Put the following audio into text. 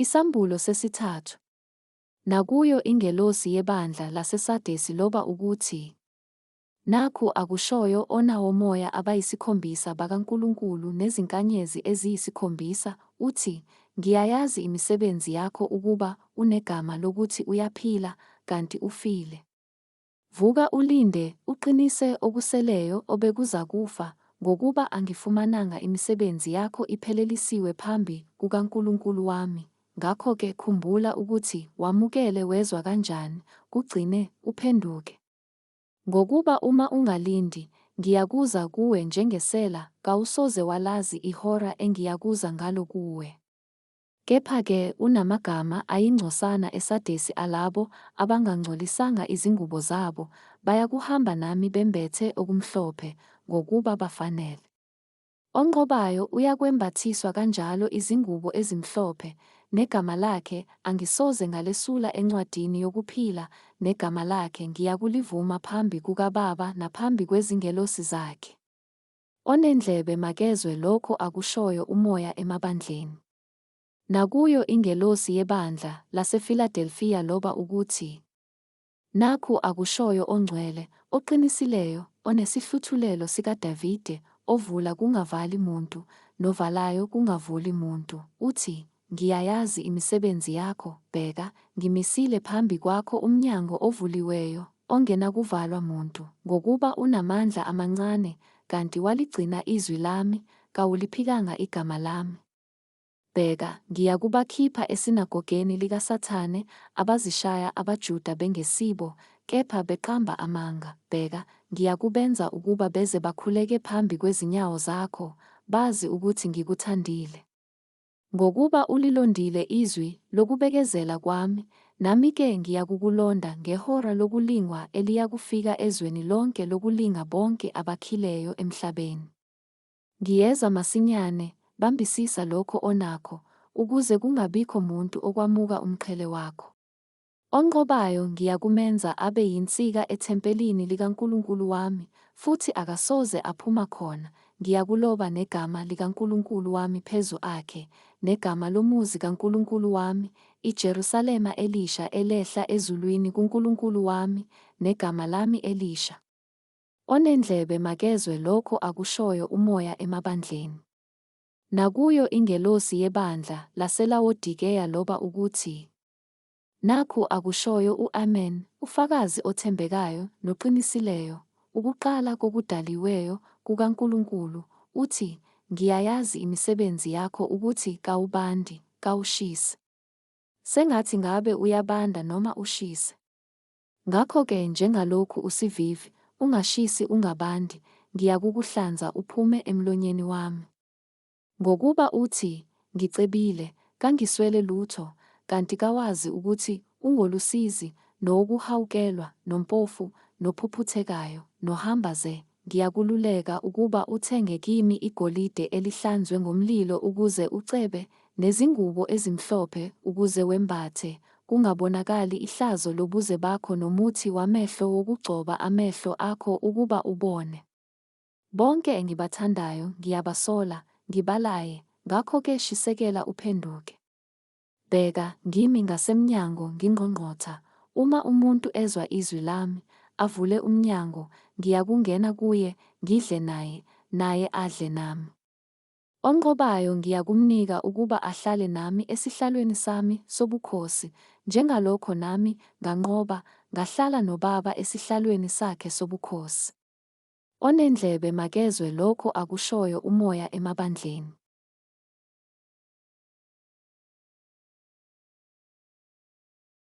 Isambulo sesithathu. Nakuyo ingelosi yebandla laseSadesi loba ukuthi, Nakhu akushoyo ona womoya abayisikhombisa bakaNkulunkulu nezinkanyezi eziyisikhombisa, uthi, Ngiyayazi imisebenzi yakho ukuba unegama lokuthi uyaphila, kanti ufile. Vuka ulinde, uqinise okuseleyo obekuzakufa, ngokuba angifumananga imisebenzi yakho iphelelisiwe phambi kukaNkulunkulu wami. Ngakho-ke khumbula ukuthi wamukele wezwa kanjani, kugcine, uphenduke. Ngokuba uma ungalindi, ngiyakuza kuwe njengesela, kawusoze walazi ihora engiyakuza ngalo kuwe. Kepha-ke unamagama ayingcosana eSadesi alabo abangangcolisanga izingubo zabo, bayakuhamba nami bembethe okumhlophe, ngokuba bafanele. Onqobayo uyakwembathiswa kanjalo izingubo ezimhlophe, negama lakhe angisoze ngalesula encwadini yokuphila, negama lakhe ngiyakulivuma phambi kukaBaba naphambi kwezingelosi zakhe. Onendlebe makezwe lokho akushoyo uMoya emabandleni. Nakuyo ingelosi yebandla laseFiladelfiya loba ukuthi, Nakhu akushoyo oNgcwele, oQinisileyo, oneSihluthulelo sikaDavide, ovula kungavali muntu, novalayo kungavuli muntu, uthi, Ngiyayazi imisebenzi yakho, bheka, ngimisile phambi kwakho umnyango ovuliweyo, ongenakuvalwa muntu, ngokuba unamandla amancane, kanti waligcina izwi lami, kawuliphikanga igama lami. Bheka, ngiyakubakhipha esinagogeni likaSathane, abazishaya abaJuda bengesibo, kepha beqamba amanga, bheka, ngiyakubenza ukuba beze bakhuleke phambi kwezinyawo zakho, bazi ukuthi ngikuthandile. Ngokuba ulilondile izwi lokubekezela kwami, nami-ke ngiyakukulonda ngehora lokulingwa eliyakufika ezweni lonke lokulinga bonke abakhileyo emhlabeni. Ngiyeza masinyane, bambisisa lokho onakho, ukuze kungabikho muntu okwamuka umqhele wakho. Onqobayo ngiyakumenza abe yinsika ethempelini likaNkulunkulu wami, futhi akasoze aphuma khona, ngiyakuloba negama likaNkulunkulu wami phezu akhe, negama lomuzi kaNkulunkulu wami, iJerusalema elisha elehla ezulwini kuNkulunkulu wami, negama lami elisha. Onendlebe makezwe lokho akushoyo uMoya emabandleni. Nakuyo ingelosi yebandla laseLawodikeya loba ukuthi, Nakhu akushoyo u-Amen, uFakazi othembekayo noqinisileyo, ukuqala kokudaliweyo kukaNkulunkulu, uthi, Ngiyayazi imisebenzi yakho ukuthi kawubandi, kawushisi. Sengathi ngabe uyabanda noma ushise. Ngakho-ke njengalokhu usivivi, ungashisi ungabandi, ngiyakukuhlanza uphume emlonyeni wami. Ngokuba uthi, Ngicebile, kangiswele lutho, kanti kawazi ukuthi ungolusizi, nowokuhawukelwa, nompofu, nophuphuthekayo, nohamba ze, ngiyakululeka ukuba uthenge kimi igolide elihlanzwe ngomlilo ukuze ucebe, nezingubo ezimhlophe ukuze wembathe, kungabonakali ihlazo lobuze bakho nomuthi wamehlo wokugcoba amehlo akho ukuba ubone. Bonke engibathandayo ngiyabasola, ngibalaye, ngakho-ke shisekela uphenduke. Bheka, ngimi ngasemnyango ngingqongqotha, uma umuntu ezwa izwi lami, avule umnyango, ngiyakungena kuye, ngidle naye, naye adle nami. Onqobayo ngiyakumnika ukuba ahlale nami esihlalweni sami sobukhosi, njengalokho nami nganqoba, ngahlala noBaba esihlalweni sakhe sobukhosi. Onendlebe makezwe lokho akushoyo umoya emabandleni.